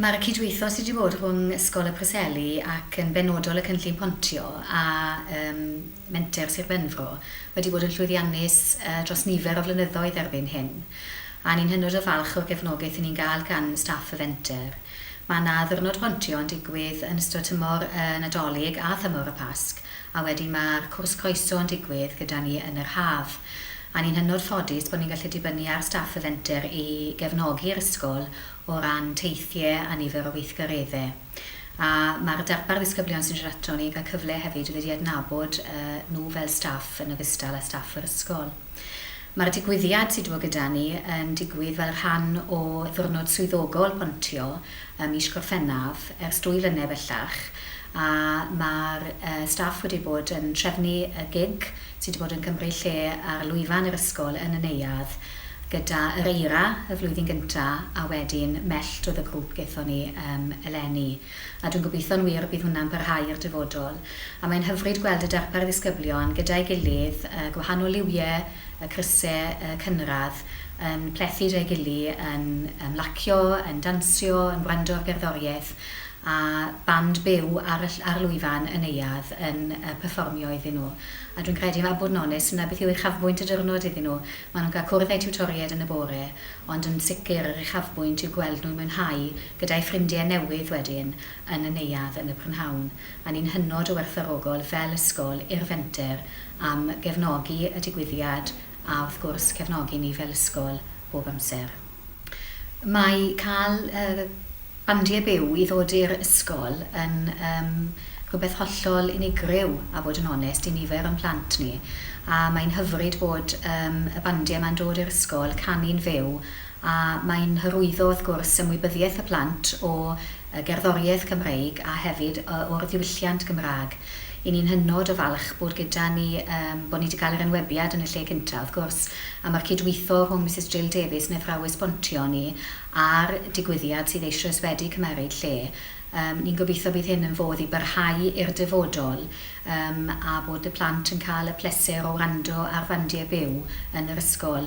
Mae'r y cydweithio sydd wedi bod rhwng Ysgol y Preseli ac yn benodol y Cynllun Pontio a ym Menter Sir Benfro wedi bod yn llwyddiannus dros nifer o flynyddoedd erbyn hyn a ni'n hynod o falch o'r gefnogaeth y ni'n gael gan staff y fenter. Mae yna Ddiwrnod Pontio yn digwydd yn ystod tymor y Nadolig a thymor y Pasg a wedyn mae'r Cwrs Croeso yn digwydd gyda ni yn yr haf a ni'n hynod ffodus bod ni'n gallu dibynnu ar staff y fenter i gefnogi'r ysgol o ran teithie a nifer o weithgaredde. A ma'r darpar ddisgyblion sy'n siarad ato ni'n cael cyfle hefyd i ddod i adnabod nhw fel staff yn ogystal â staff yr ysgol. Ma'r digwyddiad sy' 'di bod gyda ni yn digwydd fel rhan o Ddiwrnod Swyddogol Pontio ym mis Gorffennaf ers dwy flynedd bellach a ma'r staff wedi bod yn trefnu y gig Ti 'di bod yn cymryd lle ar lwyfan yr ysgol yn y neuadd gyda yr eira y flwyddyn gynta a wedyn mellt oedd y grŵp gethon ni yym eleni. A dwi'n gobeitho'n wir y bydd hwnna'n parhau i'r dyfodol. A mae'n hyfryd gweld y darpar ddisgyblion gyda'i gilydd, y gwahanol liwie, y cryse, y cynradd, yn plethu 'da'i gily, yn ymlacio, yn dansio, yn wrando ar gerddoriaeth, a band byw ar y ll- ar lwyfan y neuadd yn yy perfformio iddyn nhw. A dwi'n credu, a bod yn onest, 'na beth yw uchafbwynt y diwrnod iddyn nhw. Maen nhw'n cael cwrdd â'u tiwtoriaid yn y bore, ond yn sicr yr uchafbwynt yw gweld nhw'n mwynhau gyda'u ffrindiau newydd wedyn yn y neuadd yn y prynhawn. A ni'n hynod o werthfawrogol fel ysgol i'r Fenter am gefnogi y digwyddiad a wrth gwrs cefnogi ni fel ysgol bob amser. Mae cael bandiau byw i ddod i'r ysgol yn rhywbeth hollol unigryw a bod yn onest i nifer o'n plant ni a mae'n hyfryd bod y bandiau yma'n dod i'r ysgol, canu'n fyw a mae'n hyrwyddo wrth gwrs ymwybyddiaeth y plant o y gerddoriaeth Gymreig a hefyd o'r ddiwylliant Gymraeg. Y'n ni'n hynod o falch bod gyda ni, yym, bod ni 'di cael yr enwebiad yn y lle cynta, wrth gwrs, a ma'r cydweitho rhwng Misus Jill Davies yn athrawes bontio ni a'r digwyddiad sydd eisioes wedi cymeryd lle. Yym, ni'n gobeitho bydd hyn yn fodd i barhau i'r dyfodol, yym, a bod y plant yn cael y pleser o wrando ar fandiau byw yn yr ysgol